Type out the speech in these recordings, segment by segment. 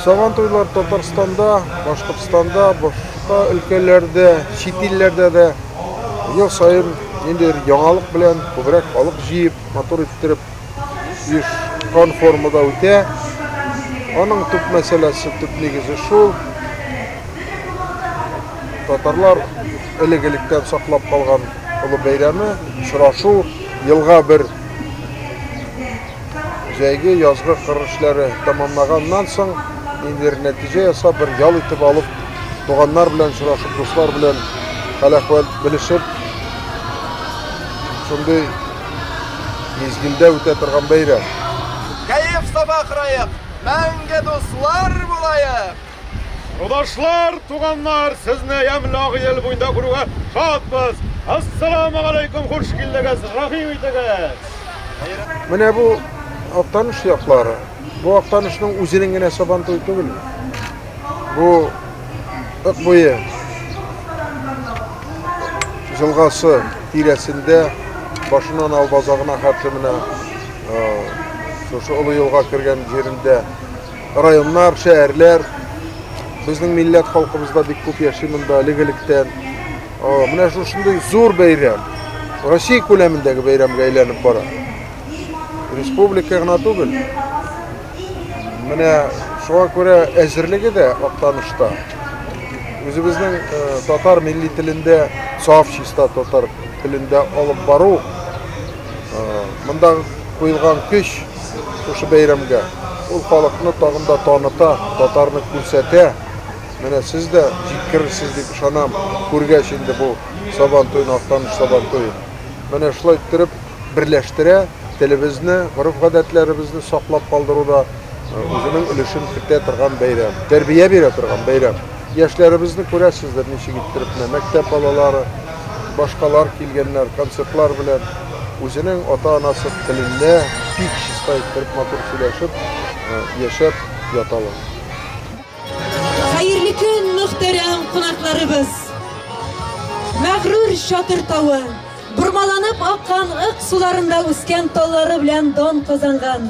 Сабан туйлар Татарстанда, Башкортстанда, башка өлкәләрдә, чит илләрдә дә ел саен ниндидер яңалык белән күбрәк халык җыеп, матур иттереп оешкан формада үтә. Аның төп мәсьәләсе, төп нигезе шул. Татарлар элек-электән саклап калган олы бәйрәме, очрашу, елга бер җәйге, язгы кыр эшләре тәмамлаганнан соң, ниндидер нәтиҗә ясап, бер ял итеп алып, туганнар белән очрашып, дуслар белән хәл-әхвәл белешеп, шундый мизгелдә үтә торган бәйрәм. Кәеф-сафа кырыек, мәңге дуслар булаек! Крудашлар, туганнар, сезне ямьле агы ел буенда күрүгә шатбыз! Ассаламугалейкум, хуш килдегез, рәхим итегез! Менә бу Актаныш яклары. Бу Актанышның үзенең генә сабантуй түгел. Бу Ык буе җылгасы тирәсендә башыннан алып азагына хәтле менә шушы олы юлга кергән җирендә районнар, шәһәрләр. Безнең милләт халкыбыз да бик күп яши монда әлеге электән. Менә шушындый зур бәйрәм Россия күләмендәге бәйрәмгә әйләнеп бара. Республика гына түгел. Менә шуңа күрә әзерлеге дә актанышта. Үзебезнең э, татар милли телендә, саф чиста татар телендә алып бару, э, мондагы куелган көч Шушы бәйрәмгә ул халыкны тагын да таныта, татарны күрсәтә. Менә сез дә җиткерерсез дип ышанам, күргәч инде бу Сабантуйны, Актаныш Сабантуен. Менә шулай иттереп берләштерә, телебезне, гореф-гадәтләребезне саклап калдыруда үзенең өлешен кертә торган бәйрәм, тәрбия бирә торган бәйрәм. Яшьләребезне күрәсездер, ничек иттереп менә мәктәп балалары, башкалар килгәннәр концертлар белән үзенең ата-анасы телендә бик чиста иттереп матур сөйләшеп яшәп яталар. Хәерле көн, мөхтәрәм кунакларыбыз! Мәгърур Чатыр тавы, бормаланып аккан ык суларында үскән таллары белән дан казанган,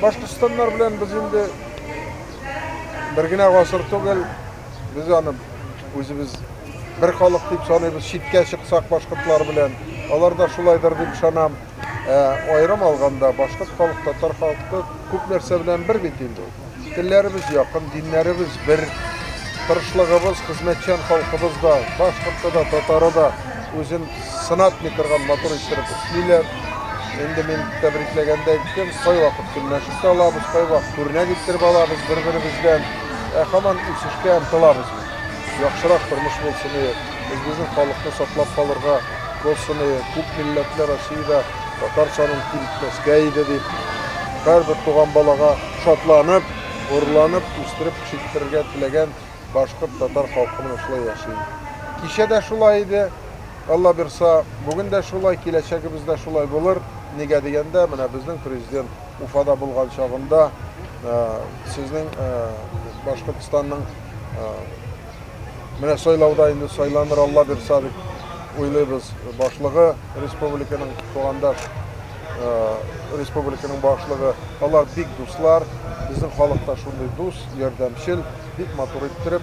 Башкортстаннар белән без инде бер генә гасыр түгел, без аны үзебез бер халык дип саныйбыз, читкә чыксак башкортлар белән, алар да шулайдыр дип ышанам. Ә аерым алганда башкорт халык, татар халкы күп нәрсә белән бер бит инде. Телләребез якын, диннәребез бер, тырышлыгыбыз, хезмәтчән халкыбыз да, башкорты да, татары да үзен сынатмый торган матур иттереп эшлиләр. Инде мин тәбрикләгәндә әйттем, кайвакыт көнләшеп тә алабыз, кайвакыт күренә китереп алабыз бер-беребездән. Ә хаман үсешкә омтылабыз бит. Яхшырак тормыш булсын ие, үзебезнең халыкны саклап калырга булсын ие, күп милләтле Россиядә татар санын киметмәскә иде дип, һәрбер туган балага шатланып, горурланып үстереп пешектерергә теләгән башкорт-татар халкы менә шулай яши. Кичә дә шулай иде. Алла бирса, бүген дә шулай, киләчәгебез дә шулай булыр. Нигә дигәндә, менә безнең президент Уфада булган чагында э, сезнең э, Башкортстанның э, менә сайлауда инде сайланыр Алла бирса дип уйлыйбыз башлыгы республиканың тугандаш республиканың башлыгы алар бик дуслар безнең халыкта шундый дус ярдәмчел бик матур иттереп